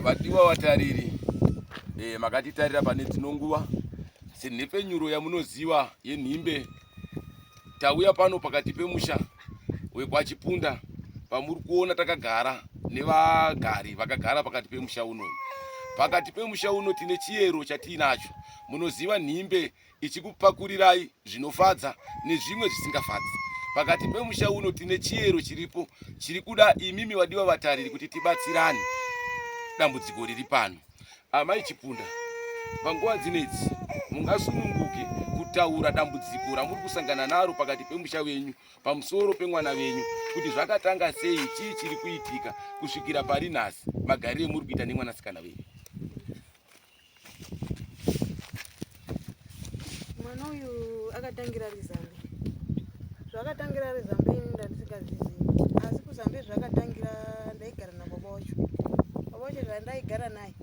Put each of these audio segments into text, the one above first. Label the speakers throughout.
Speaker 1: Vadiwa vatariri, e, makatitarira pane dzino nguva senhepfenyuro yamunoziva yenhimbe. Tauya pano pakati pemusha wekwaChipunda pamuri kuona takagara nevagari vakagara pakati pemusha uno. Pakati pemusha uno tine chiyero chatiinacho, munoziva nhimbe ichikupakurirai zvinofadza nezvimwe zvisingafadzi pakati pemusha uno tine chiyero chiripo chiri kuda imimi vadiwa vatariri kuti tibatsirane dambudziko riri pano amai chipunda panguva dzinedzi mungasununguke kutaura dambudziko ramuri kusangana naro pakati pemusha venyu pamusoro pemwana venyu kuti zvakatanga sei chii chiri kuitika kusvikira pari nhasi magariro emuri kuita nemwanasikana venyu
Speaker 2: Mwana uyu akatangira rizambe. Zvakatangira rizambe ini ndandisikazizivi. Asi kuzambe zvakatangira ndaigara nababa wacho. Baba wacho zvandaigara naye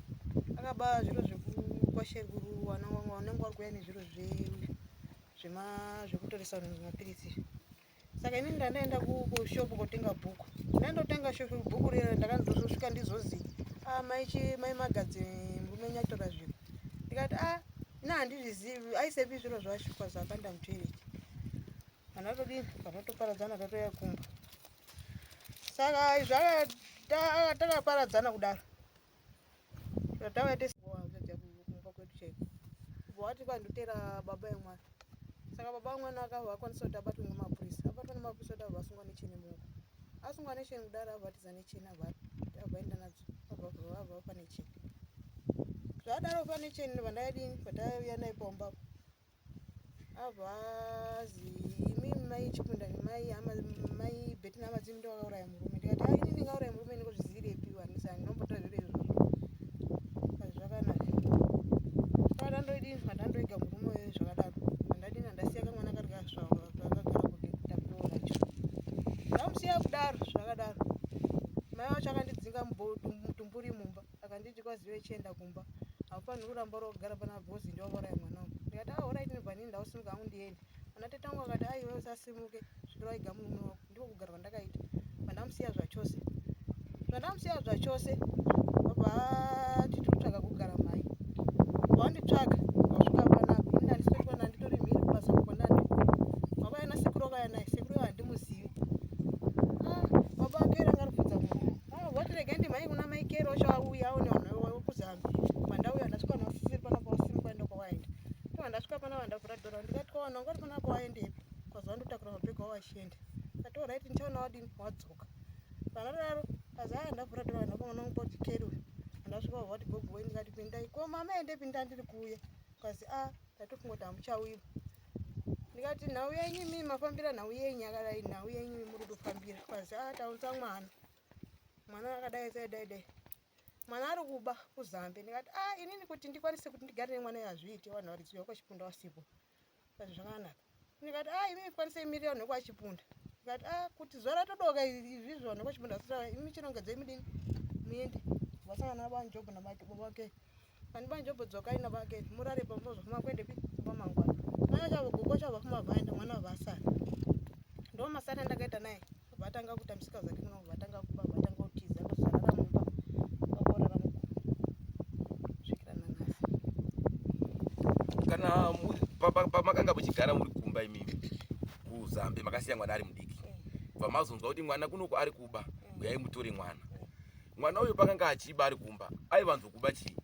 Speaker 2: akaba zviro zvekukwasheruru wanenge wari kuya nezviro zvekutoresa mapiritsi izvi. saka ini ndandaenda kushop kotenga bhuku ndandotenga bhuku rira ndakandozosvika ndizozi ah, maichi mai magadzi murume nyatora zvinhu ndikati a ah, na handizvizivi aisepi zviro zvashukwa zvakanda mutoireti vanhu vatodini vanhu vatoparadzana tatoya kumba saka izvi akataparadzana kudaro Tatawa tese wazadza kumba kwedu chaiko. Kubva wati kwandotera baba yemwana. Saka baba wemwana akava akwanisa kuti abatwe nemapurisa. Abatwa nemapurisa kuti abva asungwa necheni muoko. Asungwa necheni kudaro abvatiza necheni abva abvaenda nadzo abva abva pane cheni. Zvadaro pane cheni vandayadini vandaiya naye pamba. avazi imi mai chikunda nemai ama mai beti nama dzimi ndo vakauraya murume ndikati ai ini ndingauraya murume ndingozvizivirepi wanisa ndinombota zviro izvo zvakanaka kana ndoidi kana ndoiga murume uyu zvakadaro andadi kana ndasiya kamwana kari kasvava kakagara kuti takuroora cho ndamusiya kudaro zvakadaro mai wacho akandidzinga mutumbu akanditi kwazive chienda kumba haufaniri kuramba uri kugara pana bhozi ndovauraya mwana wangu ndikati ah orit ndibva nini ndausimuka hangu ndiende ana tete wangu akati aiwe ah, usasimuke svikira waiga murume wako ndiko kugara kwandakaita vandamusiya zvachose zvandamusiya zvachose vabva ati tiri kutsvaga kugara mhai vanditsvaga vasvika panapo ini ndandisori pana nditori mhiri kubasa kwanani baba yana sekuru vakaya naye sekuru vandimuzivi ah, baba akaeranga rubvudza munhu Ah, what again mai kuna mai kero chauya one one wewe kuzama. Manda uya ndasvika na sisi pana kwa simu kwenda kwa waenda. Kama ndasvika pana wanda kura dora ndikati kwa wana ngori pana kwa waenda ipi. Kwa zwandu takura mabhego wa shende. Kati alright ndichaona wadini wadzoka. Pana raro azaya ndavura dora ndako mwana wangu poti kero. Ndasvika what gogo wendi kati pindai. Ko mama ende pinda ndiri kuuya. Kazi ah Ndatofungoti hamuchauyi. Ndikati nhau yenyu imimi mafambira nhau yenyu yakadai nhau yenyu imimi muri kutofambira. Kwazi ah taunza mwana. Mwana akadai sai dai dai. Mwana ari kuba kuZambe. Ndikati ah inini kuti ndikwanise kuti ndigare nemwana yazviite vanhu variziwa kwachipunda wasipo. Kwazi zvakanaka. ndikati a ah, imi ikwanisei miriyoni nekwachipunda ndikati a ah, kuti zuva ratodoka izvizvo nekwachipunda sitaura imi chinongedzei mudini muende vasangana nabanjobho nabake vani banjobho dzokai nabake murare pamozofuma kuendepi kwamangwana mwana chavo gogo chavo kumavaenda mwana vavasara ndo masana ndakaita naye vatanga kuita misika zake muno vatanga kuba vatanga
Speaker 1: kutiza kuzarara mumba vakorara muku svikira nanhasi kana pamakanga muchigara muri kumba imimi kuzambe makasiya mwana ari mudiki eh. bva mazonzwa kuti mwana kunoku ari kuba eh. uyai mutore mwana mwana uyu pakanga achiba ari kumba aivanzokuba chii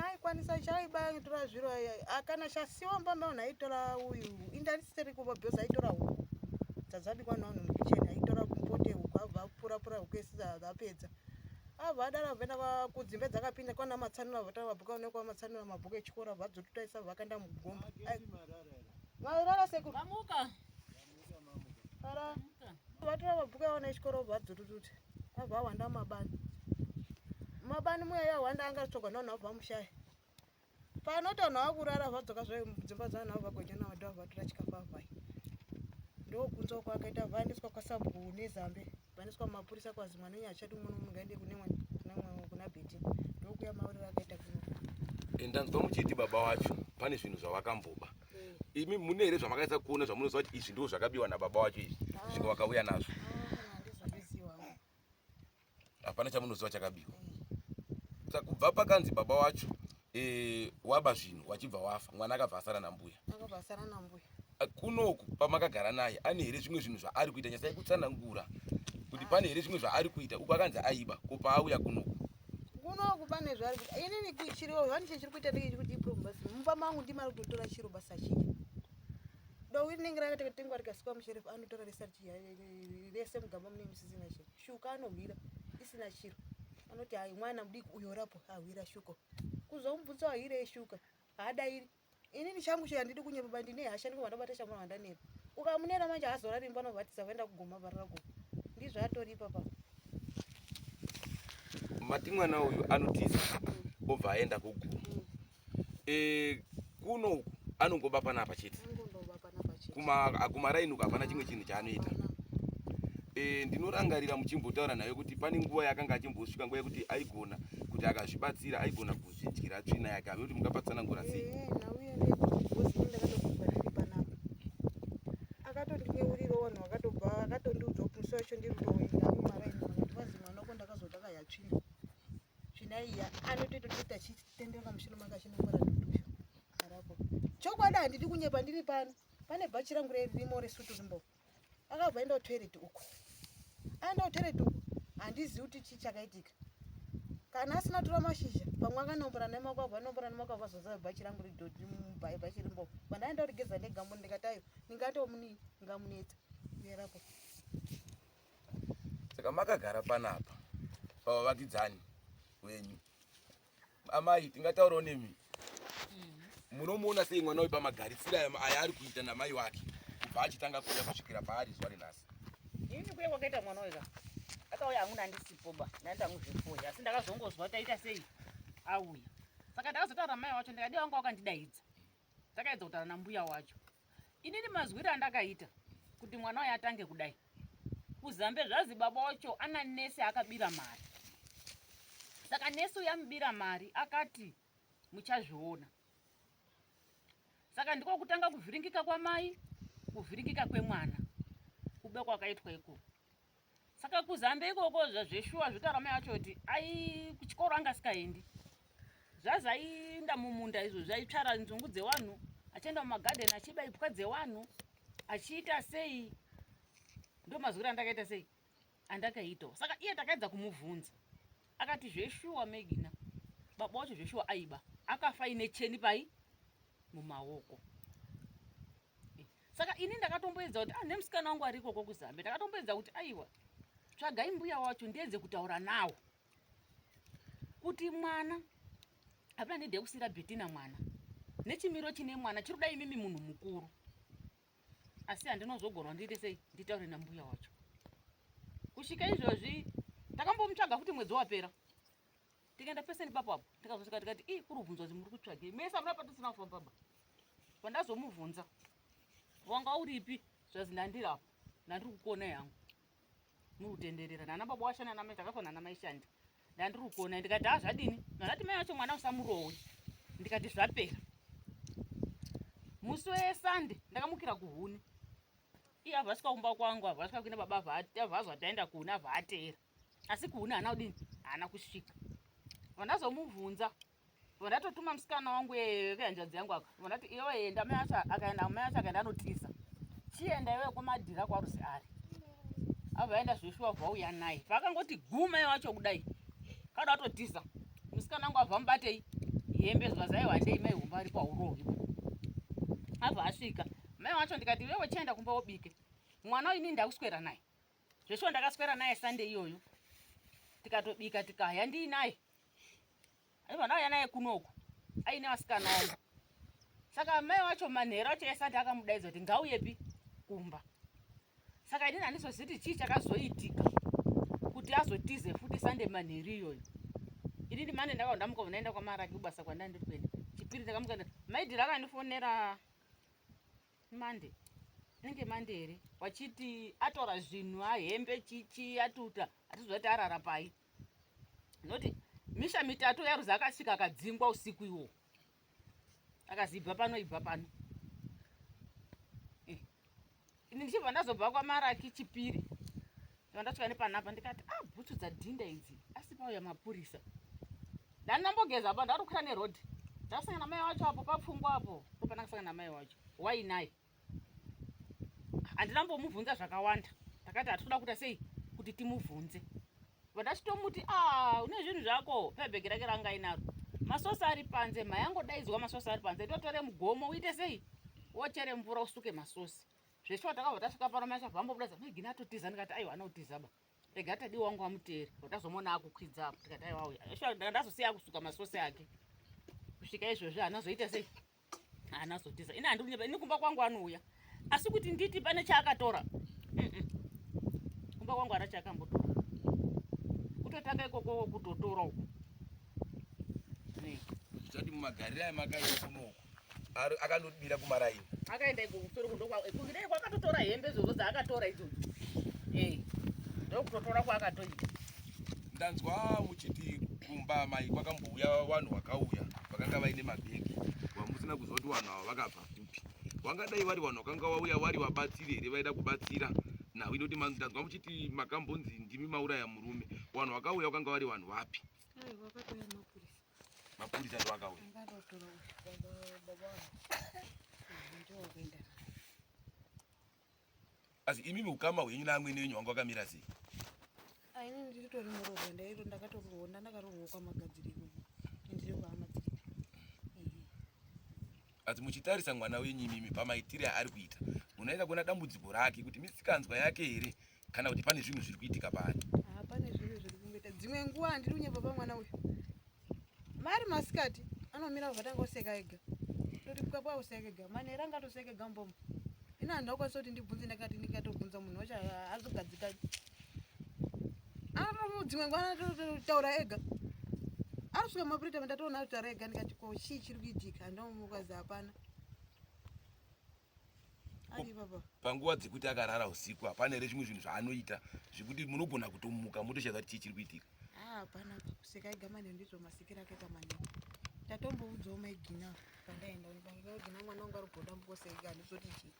Speaker 1: aikwanisa
Speaker 2: chaiba ngitora zviro akana chasiwa mbamba unhu aitora uyu indarisiteri kuva bhozi aitora huku dzadzabikwa naunhu mukicheni aitora kumpote huku abva apurapura huku ese apedza abva adara vena vakudzimba dzakapinda kwana matsanura vata vabhuka unekwa matsanura mabhuku echikora vadzotutaisa vakaenda mugomba marara sekuamuka Ara vatora mabhuku awo nechikoro vadzututute abva awanda mumabani mumabani muya yawanda anga achitsvagwa navanhu vabva mushaya panoti vanhu vava kurara vadzoka zvayo mudzimba dzavanhu vava vagonya navo ndava vatora chikafu avai ndokunzwa kwakaita vaendeswa kwasabhuku nezambe vaniswa mumapurisa kwazi mwana wenyu achati umwe nomwe ngaende kune mwe kuna bhiti ndokuya mauriro akaita kuno eh, ndanzwa muchiti baba
Speaker 1: wacho pane zvinhu zvavakamboba eh. imi mune here zvamakaisa kuona zvamunoziva kuti izvi ndoo zvakabiwa nababa wacho izvi ah. zvisvika vakauya nazvo ah,
Speaker 2: hapana chamunoziva
Speaker 1: chakabiwa eh. sa kubva pakanzi baba wacho e, waba zvinhu wachibva wafa mwana akabva asara nambuya akabva asara nambuya kunoku pamakagara naye ane here zvimwe zvinhu zvaari kuita nyasai kutsanangura kuti pane here zvimwe zvaari kuita uko akanzi aiba ko paauya kunoku kunoku pane
Speaker 2: zvaari kuita inini kuchiriwo zvani chechiri kuita ndeke chiri kuti problem basi mumba mangu ndimari kutotora chiro basa chii dowiri nenge rakatekatengwa rikasikwa musherifu anotora rese mugamba mune misisina chii Shuka anohwira isina chiro. Anoti hayi mwana mudiki uyo orapo ahwira shuko. Kuzomubvunza wahwira eshuka. Haadairi. Ini ndichangu chero handidi kunyepa bani ndine hasha ndiko vandabata shamwana vandanera. Ukamunera manje haazorari imba anovatisa vaenda kugoma varara goma. Ndizvo atoripa pa.
Speaker 1: Mati mwana uyu anotiza obva aenda kugoma. eh kuno uku anongoba panapa chete kumaraini uku hapana chimwe chinhu chaanoita eh, ndinorangarira muchimbotaura naye kuti pane nguva yakanga achimbosvika nguva yekuti aigona kuti akazvibatsira aigona kuzvidyira tsvina yake ave kuti mungapatsanangura sei eh, akatondineuriro
Speaker 2: vanhu vakatobva akatondiudza kuti musi wacho ndiri kutoenda mumaraini kuti vazi mwana wako ndakazoda kayatsvina zvinaiya anotototoita chitenderera pamusoro manga chinongora duduyo arapo chokwadi handidi kunyepa ndiri pano pane bhachi rangu rerimo resutu rimbo akabva enda kutoireti uko aenda kutoireti uko handizivi kuti chii chakaitika kana asina tora mashizha pamwe akanombora nemakwabva anombora nemakwabva azoziva bhachi rangu ridhodhi bhachi rimbo pandaenda kurigeza ndega mbo ndikatayo ndingatomunii ndingamunetsa uyerapo
Speaker 1: saka makagara panapa pavavakidzani wenyu amai tingataurawo nemi mm-hmm. munomuona sei mwana wepamagaritsira aya ari kuita namai wake kubva achitanga kuuya kusvikira paari zuva renhasi ini kuya
Speaker 3: kwakaita mwana weka akauya amuna andisipo ba nandanguzvefoya asi ndakazongozwa taita sei auya saka ndakazotaura mai wacho ndikadi wanga wakandidaidza takaedza kutaura nambuya wacho inini mazwiri andakaita kuti mwana waye atange kudai kuzambe zvazi baba wacho ana nesi akabira mari saka nesi uyamubira mari akati muchazviona saka ndiko kutanga kuvhiringika kwamai kuvhiringika kwemwana kube kwakaitwa ikoko saka kuzambe ikoko zveshuwa zvikarama yacho kuti ai kuchikoro anga asikaendi zvazaiinda mumunda izvo zvaitsvara nzungu dzevanhu achienda mumagadheni achiba ipwa dzevanhu achiita sei ndo mazwiro andakaita sei andakaitawo saka iye takaedza kumubvunza akati zveshuwa megina baba wacho zveshuwa aiba akafa ine cheni pai mumaoko saka ini ndakatomboedza kuti ah nemusikana wangu ari ikoko kuzambe ndakatomboedza kuti aiwa tsvagai mbuya wacho ndiedze kutaura nawo kuti mwana hapana nede yekusira betina mwana nechimiro chine mwana chiri kudai imimi munhu mukuru asi handinozogona ndiite sei nditaure nambuya wacho kusvika izvozvi takambomutsvaga futi mwedzi wapera tikaenda pese nepapo apo tikazosvika tikati ii kuri kubvunzwa kuti muri kutsvagei mese amuna patisina kufamba ba pandazomubvunza wanga uripi zvazi ndandiri apo ndandiri kukuona yangu muri kutenderera nana baba washa nana mai takafa nana mai shandi ndandiri kukuona ndikati ha zvadini ndanati mai wacho mwana usamurowe ndikati zvapera musi wesande ndakamukira kuhuni iye avasika kumba kwangu avasika kuina baba avazwa taenda kuhuni avaateera asi kuhuni haana kudini haana kusvika vandazomubvunza vandatotuma musikana wangu vehanzvadzi yangu aka vandati iwe enda mai acho akaenda mai acho akaenda anotiza chienda iwe kwamadhira kwarusi ari avaenda zveshuwa vauya naye vakangoti gumai wacho kudai kada atotiza musikana wangu abva mubatei hembe zvazaiwandei mai humba ari paurohi abva asvika mai wacho ndikati iwe uchaenda kumba wobike mwana ini ndakuswera naye zveshuwa ndakaswera naye sande iyoyo tikatobika tikaya ndii naye aiva ndauya naye kunoku aine vasikana avo saka mai wacho manhero acho esande akamudaidza kuti ngauyepi kumba saka inini handizoziti chii chakazoitika kuti azotize futi sande manhero iyoyo ini ndimane ndakava ndamuka vanaenda kwamaraki kubasa kwandandiri kuenda chipiri ndakamuka maidhiri akandifonera Monday. Inenge Monday here? Wachiti atora zvinhu ahembe chichi atuta atiziva kuti arara pai. Noti misha mitatu yaruza akasvika akadzingwa usiku iwo. Akazi ibva pano ibva pano. Eh. Ini ndichibva ndazobva kwaMaraki Chipiri. Ndandasvika nepanapa ndikati ah bhutsu dzadhinda idzi asi pauya mapurisa. Ndandambogeza apa ndarukwira neroad. Ndasanga namai wacho apo papfungwa apo. Kopana kasanga namai wacho. Why naye? Andina mbomuvhunza zvakawanda. Takati atikuda kuita sei kuti timuvhunze. Vandachitomuti ah une zvinhu zvako pebhegi rake ranga inaro. Masosa ari panze mayango daidzwa masosa ari panze totore mugomo uite sei? Wochere mvura usuke masosi. zveshuwa takabva tasvika pano mai chabva ambobuda zati maigina atotiza ndikati aiwa anotiza ba rega tadi wangu amuteere watazomona akukwidza apo tikati aiwa uya zveshuwa ndanga ndazosiya akusuka masose ake kusvika izvozvi anazoita sei anazotiza ini handikunyepa ini kumba kwangu anouya asi kuti nditi pane chaakatora kumba kwangu ana chaakambotora kutotanga ikoko kutotora uku
Speaker 1: zvichati mumagariro ayo makaita kunoku Ari akandodira kuma raini. Akaenda iko kusoro
Speaker 3: kundo kwa kungidei kwakatotora hembe zvozo dzaakatora idzo. Eh. Ndokutotora kwakatoita. Ndanzwa
Speaker 1: muchiti kumba mai kwakambouya vanhu vakauya vakanga vaine mabhegi wamusina kuziva kuti vanhu ava vakabva kupi wangadai vari vanhu vakanga vauya vari vabatsiri here vaida kubatsira nhau inoti ndanzwa muchiti makambonzi ndimi mauraya murume vanhu vakauya vakanga vari vanhu vapi Mapurisa ndo akauya. Asi imi mukama wenyu na amwene wenyu wangu akamira sei? Ah, ini
Speaker 2: ndiritori muroho ndairo ndakatokuona ndakarohwa kwa magadziriro. Ndiri kwa amadziriro.
Speaker 1: asi muchitarisa mwana wenyu imimi pamaitire aari kuita munoenda kuona dambudziko rake kuti misikanzwa yake here kana kuti pane zvinhu zviri kuitika paari ah, pane zvinhu zviri
Speaker 2: kungoita dzimwe nguva handiri kunyepa pamwana uyu maari masikati anomira kuvatanga kuseka ega toti pwapwa kuseka ega manera angatoseka ega mbomo ini handakwanisa kuti ndibvunze ndakati ndingatobvunza munhu wacho azogadzika dzimwe nguva anototaura ega anosvika mapurita mandatoona anotaura ega ndikati ko chii chiri kuitika ndomukazi hapana panguva dzekuti akarara
Speaker 1: usiku hapana here zvimwe zvinhu zvaanoita zvekuti munogona kutomuka motoshaya kuti chii chiri kuitika ah, hapana
Speaker 2: kuseka ega manheru ndizvo masikiro akaita manheru tatomboudzawo maigina pandaenda maigina mwana wangu ari kugoda mbukoseka handizoti chii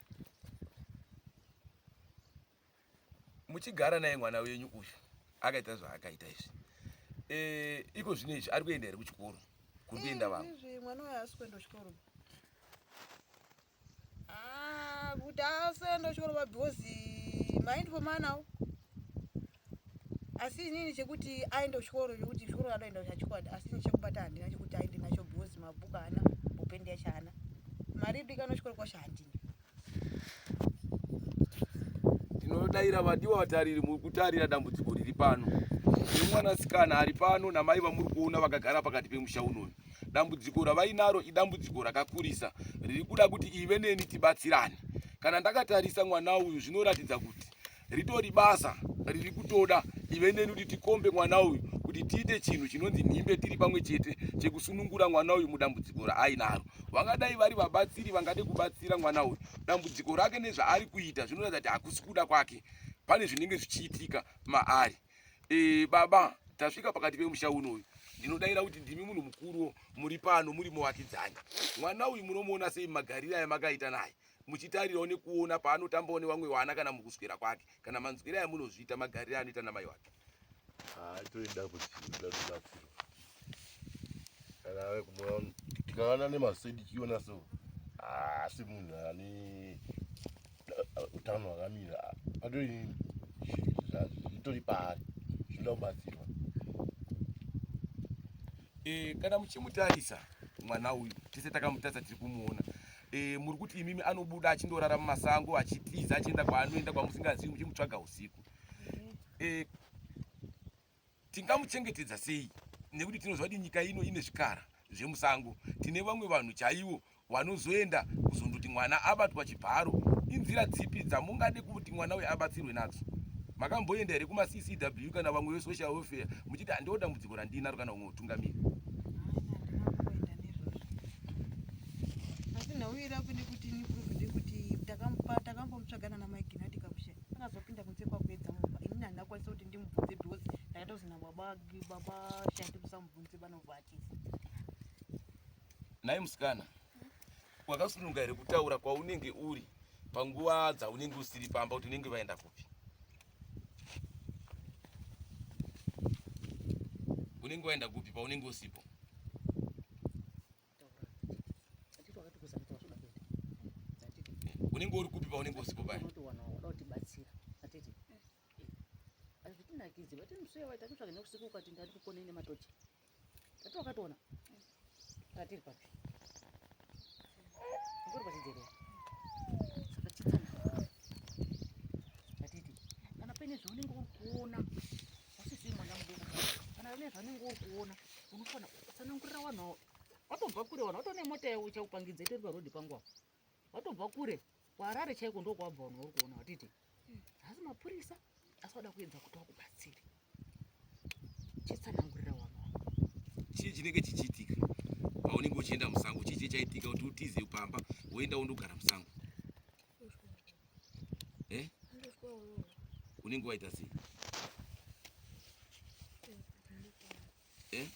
Speaker 1: muchigara naye mwana wenyu uyu akaita zvaakaita izvi e, iko zvino izvi ari kuenda here kuchikoro kuri kuenda vamwe izvi mwana uyu asi kuenda
Speaker 2: kuchikoro ah, kuti asenda kuchikoro ba because mind for manawo asi inini chekuti aende kuchikoro chekuti chikoro anoenda chachikwadi asi ini chekubata handina chekuti aende nacho because mabhuku haana bopendi yacho haana mari idikano chikoro kwacho handina
Speaker 1: Ndinodaira vadiwa vatariri, muri kutarira dambudziko riri pano nemwanasikana ari pano namai vamuri kuona vakagara pakati pemusha unoyu. Dambudziko ravainaro idambudziko rakakurisa riri kuda kuti ive neni tibatsirane. Kana ndakatarisa mwana uyu zvinoratidza kuti ritori basa riri kutoda ive neni kuti tikombe mwana uyu kuti tiite chinhu chinonzi nhimbe tiri pamwe chete chekusunungura mwana uyu mudambudziko raainaro vangadai vari vabatsiri vangade kubatsira mwana uyu dambudziko rake nezvaari kuita zvinoratidza kuti hakusi kuda kwake pane zvinenge zvichiitika maari e, baba tasvika pakati pemusha uno uyu ndinodaira kuti ndimi munhu mukuruwo muri pano muri muvakidzani mwana uyu munomuona sei magariro aya makaita naye muchitarirawo nekuona paanotambawo nevamwe vana kana mukuswera kwake kana manzwira aya munozviita magarire anoita namai wake atoida kuziabatsirwa
Speaker 4: kana ave kumoa tikaona nemasedi chiona so asi munhu ane utano hwakamira atori zvitori paari zvinoda kubatsirwa
Speaker 1: eh, kana muchimutarisa mwana uyu tese takamutarisa tiri kumuona e, muri kuti imimi anobuda achindorara mumasango achitiza achienda kwaanoenda kwamusingazivi muchimutsvaga usiku e, tingamuchengetedza sei nekuti tinoziva kuti nyika ino ine zvikara zvemusango tine vamwe vanhu chaivo vanozoenda kuzondoti mwana abatwa chibharo inzira dzipi dzamungade kuti mwana uyo abatsirwe nadzo makamboenda here kumaccw kana vamwe vesocial welfare muchiti handiwo dambudziko randinaro kana umwe utungamiri
Speaker 2: asi nhau iri akude kuti nipruvide kuti takambomutsvaga nana maigina tikakusha akazopinda kunze kwakuedza mumba inini handina kwanisa kuti ndimubvunze because ndakaita kuti nababa baba shandi musamubvunze vanovhatisa
Speaker 1: nhai musikana wakasununga here kutaura kwaunenge uri panguva dzaunenge usiri pamba kuti unenge vaenda kupi unenge waenda kupi paunenge usipo unenge uri kupi paunenge usipo paya
Speaker 3: hazvitinakidzi vati msee waita kutsvaga neusiku ukati ndati kukonei nematochi tati wakatoona tatiri papi ngori pachidzero saka chitsana tatiti kana paine zvaunenge uri kuona Usisiri mwana mudoko kana une zvanenge uri kuona unofana kutsanangurira vanhu avo watobva kure vanhu watone mota yavo ichakupangidza itori parodi pangu apo watobva kure kuharare chaiko ndokwabva vanhu vari kuona watiti haasi mapurisa asi wada kuedza kuti wakubatsire chitsanangurira vanhu avo chii
Speaker 1: chinenge chichiitika paunenge uchienda musango chii chii chaitika kuti utize pamba woenda wondogara musango eh? unenge waita sei eh?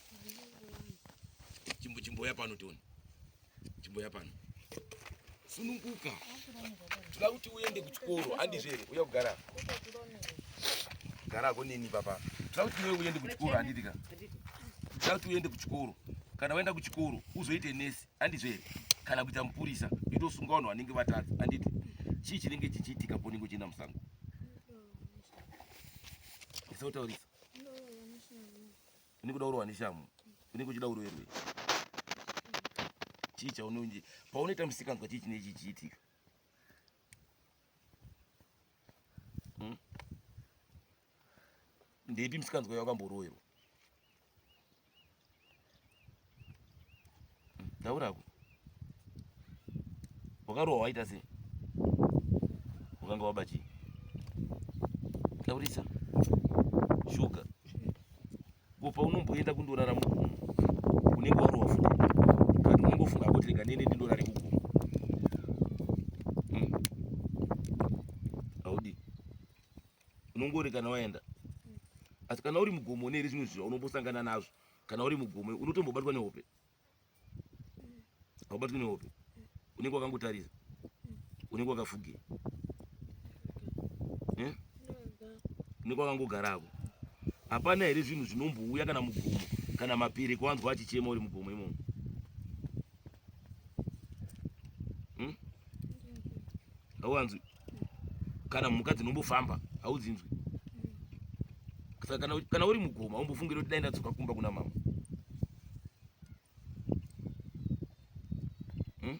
Speaker 1: chimbo chimboya pano tione chimboya pano sununguka toda kuti uende kuchikoro andizvere uya kugara gara konini papa toda kuti iwe uende kuchikoro anditika toda kuti uende kuchikoro kana waenda kuchikoro uzoite nesi andizvo here kana kuita mupurisa itosunga vanhu vanenge vatadza anditi chii chinenge chichiitika ponenge uchienda musango ndisautaurisa unenge uda urohwa neshamu unenge uchida uroerwe chii chaunonje paunoita musikanzwa chii chinenge chichiitika Ndepi msikanzwa yako amboroerwa. Taura ku. Wakarowa waita sei? Ukanga waba chii? Taurisa. Shuga. Kupa unomboenda kundorara mugumo. Unenge warowa futi. Kana unongofunga kuti rega nene ndindorare kugumo. unongori kana waenda asi kana uri mugomo une here zvimwe zvinhu unombosangana nazvo kana uri mugomo unotombobatwa nehope haubatwi nehope unenge wakangotarisa unenge wakafugira eh? unenge wakangogarako hapana here zvinhu zvinombouya kana mugomo kana mapiri kuwanzwa achichema uri mugomo imomo hmm? hauwanzwi kana mhuka dzinombofamba haudzinzwi kana, kana uri mugomo haumbofungire kuti dai ndadzoka kumba kuna mama hmm?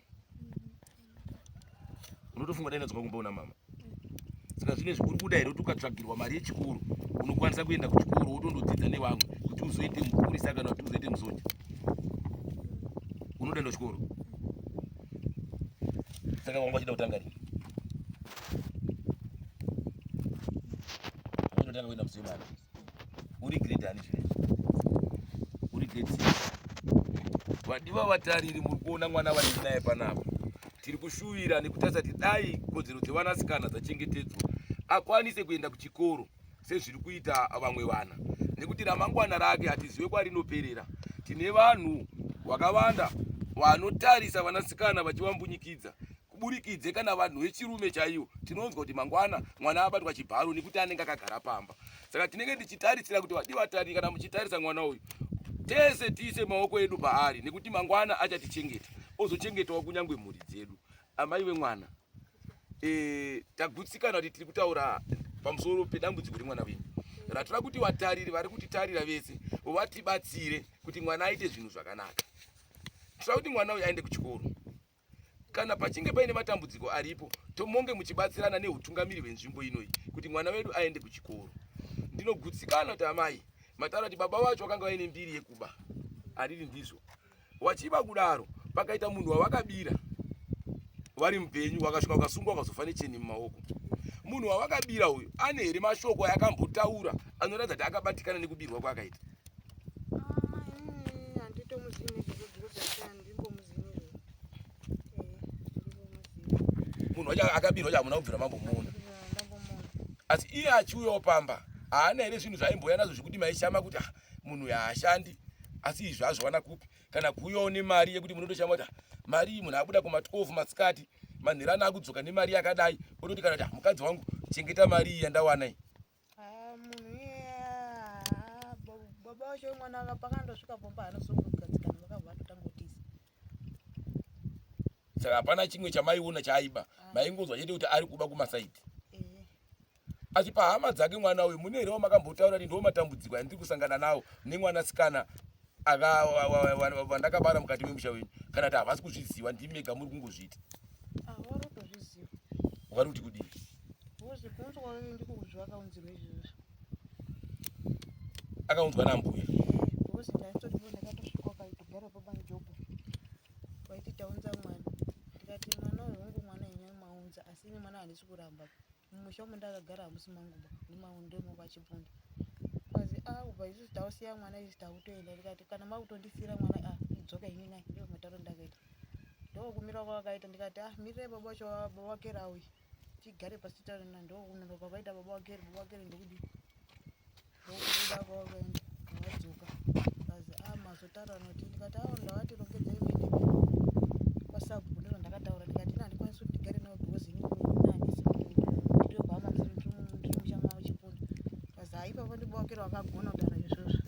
Speaker 1: unotofunga dai ndadzoka kumba kuna mama saka zvine zvikuri kuda here kuti ukatsvagirwa mari yechikoro unokwanisa kuenda kuchikoro wotondodzidza nevamwe kuti uzoite mupurisa kana kuti uzoite musoja unotoenda chikoro Saka wanga uchida kutanga rini? Unotanga kuenda muzimu ana. Uri grade ani zvino? Uri grade 6. Vadiwa vatariri muri kuona mwana vari naye panapa. Tiri kushuvira nekutarisa kuti dai kodzero dzevanasikana dzachengetedzwa akwanise kuenda kuchikoro. sezviri kuita vamwe vana nekuti ramangwana rake hatizive kwarinoperera tine vanhu vakawanda vanotarisa vanasikana vachivambunyikidza kuburikidze kana vanhu vechirume chaivo tinonzwa kuti mangwana mwana abatwa chibharo nekuti anenge akagara pamba saka tinenge tichitarisira kuti vadi vatari kana muchitarisa mwana uyu tese tiise maoko edu paari nekuti mangwana achatichengeta ozochengetawo kunyange mhuri dzedu Amai vemwana e, tagutsikana kuti tiri kutaura pamusoro pedambudziko remwana wenyu ratoda kuti vatariri vari kutitarira vese vatibatsire kuti mwana aite zvinhu zvakanaka. Toda kuti mwana uyu aende kuchikoro. Kana pachinge paine matambudziko aripo, tomonge muchibatsirana neutungamiri hwenzvimbo inoyi kuti mwana wedu aende kuchikoro. Ndinogutsikana kuti amai mataura kuti baba vacho vakanga vaine mbiri yekuba ariri ndizvo wachiba kudaro pakaita munhu wavakabira vari mupenyu wakasvika ukasungwa ukazofa necheni mumaoko munhu wavakabira uyu ane here mashoko ayakambotaura anoratidza kuti akabatikana nekubirwa kwaakaita munhu wacho akabirwa chamuna kubvira mambomuona asi iye achiuyawo pamba haana here zvinhu zvaimboya nazvo zvekuti maishama kuti ah, munhu yaashandi asi izvi azviwana kupi kana kuuyawo nemari yekuti munotoshama kuti ah, mari iyi munhu abuda kuma 12 masikati manherana akudzoka nemari yakadai ototi kana kuti ah, mukadzi wangu chengeta mari iyi yandawana iyi ah,
Speaker 2: baba wacho mwana aka pakandosvika pomba anozongogadzikana vakabva atotanga kutiza saka
Speaker 1: hapana chimwe chamaiona chaiba maingonzwa chete kuti ari kuba kumasaidi achipa hama dzake mwana uyu mune here wamakambotaura kuti ndiwo matambudziko andiri kusangana nawo nemwanasikana vandakabara mukati memusha wenyu kana kuti havasi kuzviziva ndimi mega muri kungozviita vari
Speaker 2: kuti
Speaker 1: kudii akaunzwa nambuya
Speaker 2: vaiti taunza mwana ndikati mwana uyu wangu mwana yenyu maunza asi ini mwana handisi kuramba mumusha umu ndakagara hamusi manguba nemaunde umo kwachibvunda kwazi a ah, ubva isusu tausiya mwana isusu tautoenda ndikati kana makutondisiira mwana a ah, idzoka ini nai ndo mataro ndakaita ndokumira kwavakaita ndikati a ah, mirirai baba wacho baba wakera auyi tigare pasi taona ndokunonoka kwaita baba wakeri baba wakeri ndokudii ndokubuda kwavakaenda ndakadzoka kazi a ah, mazotaura noti ndikati awo ndavati rongedzai mene kwasabhuku ndiro ndakataura ndikati ina handikwanisi kuti ndigare nawo because ini ndinanisi ndiri kuhama ndiri musha mavo chipunda kazi a ah, ipapo ndibawakira wakagona kutaura izvozvo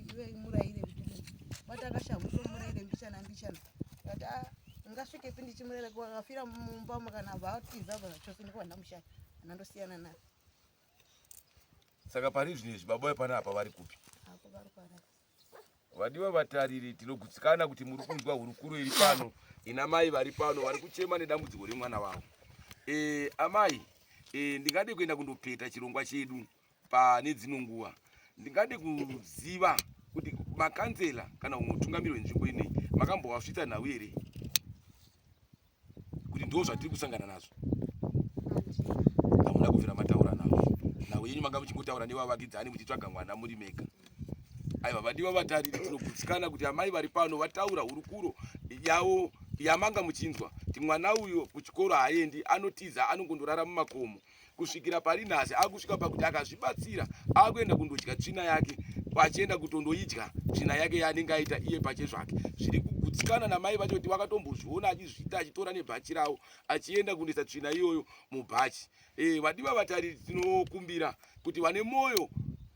Speaker 2: iwe muraire vati akashahwa muraire mbichana mbichana vati ah, ngasvikepi ndichimurera akafira mumba makana vatiza zvachose ndiko vandamushaya ana ndosiyana naye saka
Speaker 1: pari zvino izvi baba vepana apa vari kupi
Speaker 2: vadiwa
Speaker 1: vatariri tinogutsikana kuti muri kunzwa hurukuro iri pano ina mai vari pano vari kuchema nedambudziko remwana wavo e, amai e, ndingade kuenda kundopeta chirongwa chedu pane dzimwe nguva ndingade kuziva kuti makanzela kana umwe utungamiri wenzvimbo inei makambovasvitsa nhau here kuti ndo zvatiri kusangana nazvo hamuna kubvira mataura navo nhau yenyu manga muchingotaura nevavakidzani muchitsvaga mwana muri mega aiva vadiwa vatariri tinogutsikana kuti amai vari pano vataura hurukuro yavo yamanga muchinzwa kuti mwana uyo kuchikoro haaendi anotiza anongondorara mumakomo kusvikira pari nhasi akusvika pakuti akazvibatsira akuenda kundodya tsvina yake vachienda kutondoidya tsvina yake yaanenge aita iye pache zvake zviri kugutsikana namai vacho kuti vakatombozviona achizviita achitora nebhachi ravo achienda kundoisa tsvina iyoyo mubhachi eh, vadiva vatariri tinokumbira kuti vane mwoyo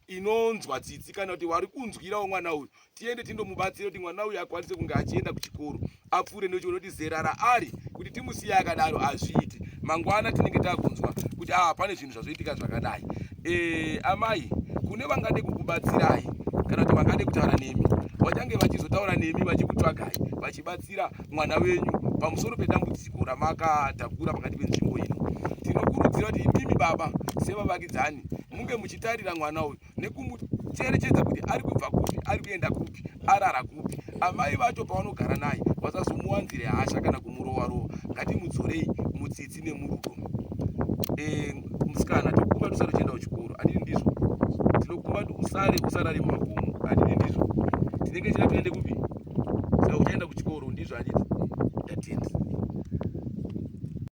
Speaker 1: inonzwa tsitsi kana kuti vari kunzwirawo mwana uyu tiende tindomubatsira kuti mwana uyu akwanise kunge achienda kuchikoro apfuure nekuti unoti zera raari kuti timusiye akadaro hazviiti mangwana tinenge takunzwa kuti aa ah, pane zvinhu zvazoitika zvakadai e, amai kune vangade kukubatsirai kana kuti vangade kutaura nemi vachange vachizotaura nemi vachikutsvagai vachibatsira mwana wenyu pamusoro pedambudziko ramakatakura pakati penzvimbo ino tinokurudzira kuti imimi baba sevavakidzani munge muchitarira mwana uyu nekumucherechedza kuti ari kubva kupi ari kuenda kupi arara kupi amai vacho pavanogara naye vasazomuwanzire hasha kana kumurova rova ngatimudzorei mutsitsi nemurudo eh, musikana tokumba tusare uchienda kuchikoro andii ndizvo tinokumba usare usarari mumakomo andii ndizvo tinenge chira tiende kupi saka uchaenda kuchikoro ndizvo anditi ndatenda